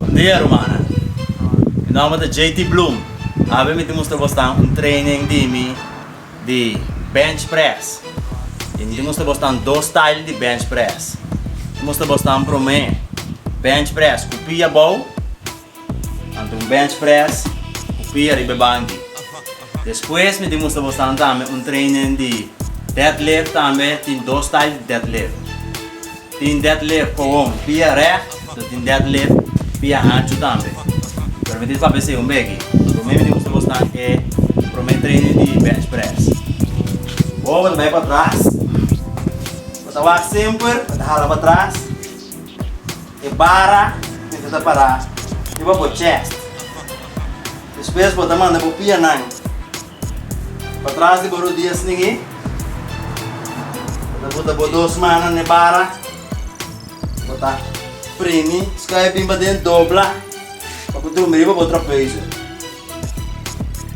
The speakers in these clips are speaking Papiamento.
Bon dia rumannan. Mi nomber ta JT Bloom. Awe mi ta mustra bosnan un training di mi di bench press. Y mi ta mustra bosnan dos style di bench press. Mi ta mustra bosnan prome bench press cu pia abou. Anto un bench press cu pia riba e banki. Despues mi demustra bosnan tambe un training di deadlift tambe tin dos style di deadlift. Tin deadlift gewoon pia recht, lo tin deadlift pia hanchu tambe. Pero mi tin papia esey un beki. Anto mi a demustra bosnan e prome training di bench press. Bo bo ta bay patras, bo ta wak semper bo ta hala patras. E bara tin ku ta pará riba bo chèst. Despues bo ta manda bo pianan pa tras di bo rodia snigí. Bo ta bota bo dos mannan na e bara. Bo ta primi skuif bin paden, dobla pa ku drumi riba bo trapezu.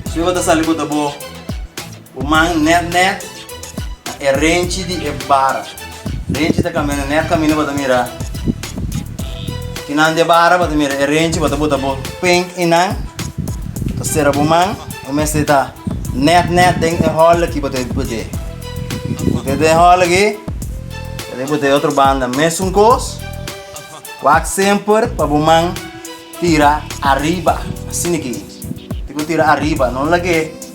Despues bo ta sali bota bo. Bo man nèt nèt na e renchi di e bara. Renchi ta kaminda nèt kaminda bo ta mira kinan di e bara, bo ta mira e renchi, bo ta bota bo pen einan. Ta sera bo man, bo mester ta nèt nèt den e hòl aki bo ta bot'é. Bot'é den e hòl aki, ta deb'é bot'é otro banda mesun kos. Wak semper pa bo man tira ariba, asina ki. Tiko tira ariba, no laga e.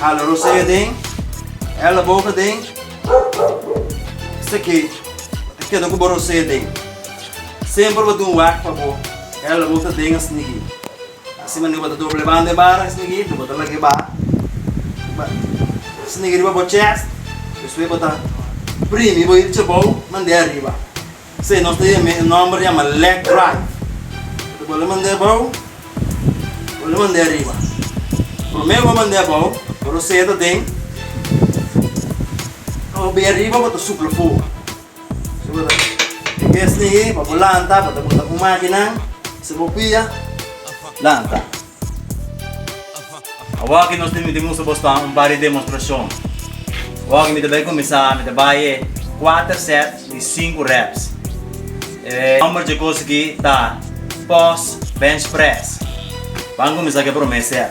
Hala rosea den, hala boca den, esaki ta keda cu bo rosea den. Semper bo tin un wak pa bo hala boca den a snigi. Asi manera bo ta doble banda e bara a snigi, den bo ta laga e ba, ba snigi riba bo chest, despues bo ta primi bo e chabou mande ariba. P'esei nos ta yam'é e nòmber yama Lek Drive. Lo ta bole mand'é abou, bole mand'é ariba. Promé bo mand'é abou, bo lo seta den, pa bo bai ariba bo ta supla fogu. Si bo ta den besn'é, pa bo lanta, bo ta bota un mákina, si bo pia, lanta. Awaki nos tin miti mustra bosnan un par di demostrashon. Awaki mi ta bai kuminsá, mi ta bai e kuater sèt di sinku rèps. E nòmber dje kos aki ta Pos Bench Press. Ban kuminsá ku e promé sèt.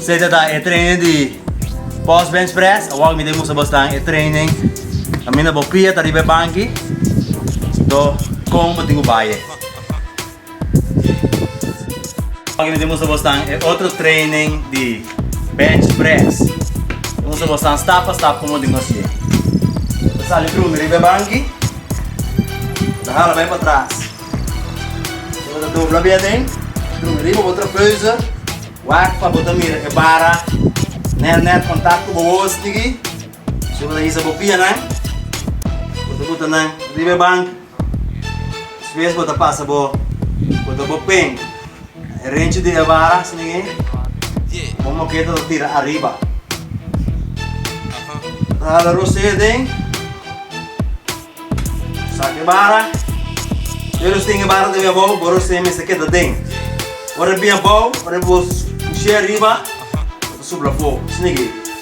Sete ta e training di post bench press, awor mi ta musa bos nan e training. Camina bo pia ta riba e banki, to con bo tin cu baye. Aki mi ta mustra bos nan e otro training di bench press. Mi ta mustra bos nan stap pa stap komo tin ku hasié. Mi ta sali Bruno riba e banki, mi ta hala bai patras, mi ta dobla biaden, Bruno riba bo trapeuze, wak pa bo ta mira e bara nèt nèt kontak ku bo wos niki. Despues bo ta hisa bo pianan, bo ta puta nan riba e banki. Despues bo ta pasa bo bo ta bo pen renchi di e vara asina ke bo moket ta tira ariba ta hala rosé aden sak e vara pero si tin e vara tambe abou bo rosé mester keda aden ora e bin abou ora bo pushia ariba ta sup la fo asina ke.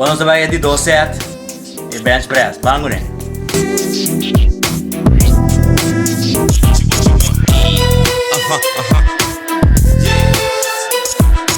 Ora nos ta bay e di dos set e bench press, bangu ne.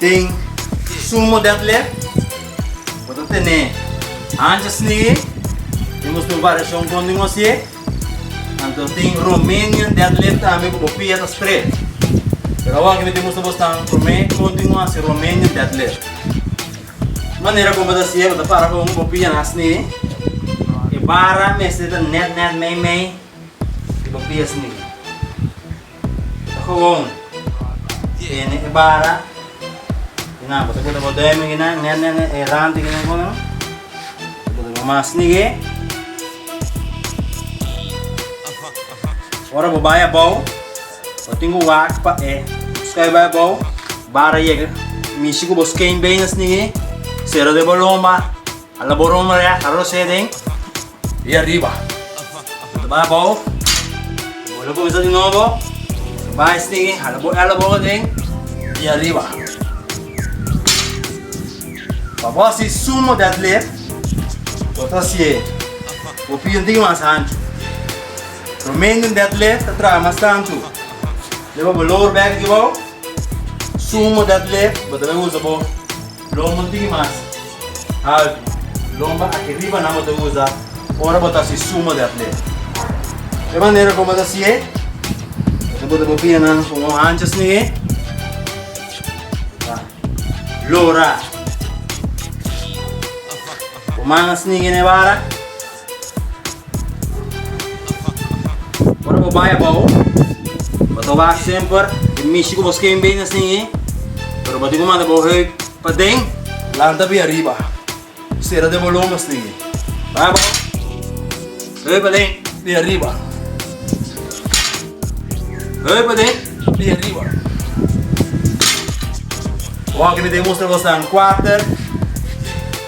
Den sumo dèt lè, bo ta tene ancha sneeë, den nos tur variashon kon di nos ye. Anto tin Romanian dèt lè tambe ku bo pia ta stret. Pero awor aki mi ta mustra bo esnan promé kon tin bo hasi Romanian dèt lè. E manera kon bo ta hasié, bo ta para kon bo pia nan sneeë. E bara mester ta nèt nèt, mei mei, i bo pia sneeë. Gewoon tiene e bara nan pasobra bo ta bo durmi gi nan nèt nèt nèt e rante gi nan kono bo ta bo mas nig'é ora bo bai abou bo tin ku wak pa e sky bai abou bara yega mishi ku bo skei bey na snig'é sera de bo lomba. A la borron marea arroz e den y ariba lo bay abao bo lo cuminsa di nobo lo bay stigui hala bo ela bobo den y ariba pa bo haci sumo den atleer bo ta hacie bo pia un tin mas ancho lo menden den atleer ta traha mas tanto lo lower back di bo sumo den atleer bo ta bay usa bo Lombo tin mas haltu. Lombo aki riba nan bo ta usa ora bo ta hasi sumo di atleta. E manera ku bo ta hasi'e, bo ta bota bo pianan ku un hancha sni'e, ta lora. Bo manga sni'e na e bara. Ora bo bai abao, bo ta wak semper e mishi ku bo skein bey na singi, pero bo tin ku manda bo heup paden. Lanta bey ariba, sera den bo lombra singi. Bai abao, heup paden. Bey ariba, heup paden. Bey ariba. Wak mi ta mostra boso nan kuater.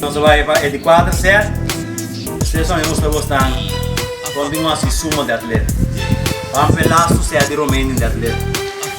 Nos a bay pa e di cuater set, tres horas nos ta bosnan continua si suma di atleta. Pampe lastu set di Romein den di atleta.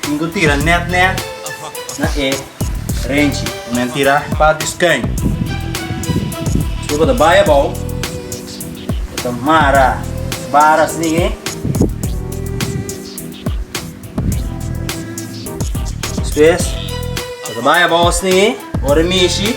Tin cu tira net net na e renchi. Cu nan tira pa di schuin. Despues cu ta bay abao, cu ta mara bara asni'i. Despues cu ta bay abao asni'i, ora e mishi.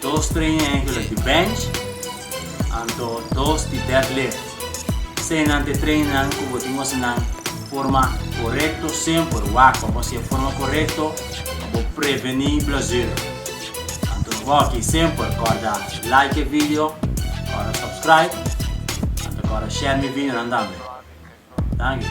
Dos trainer angular di bench, anto dos di deadlift. Esei nan te trainernan ku bo tin ose nan forma korekto semper. Wak pa bo hasi e forma korekto pa bo prevení blesura. Anto nos wou aki semper kòrda like e video, kòrda subscribe, anto kòrda share mi videonan tambe. Danki.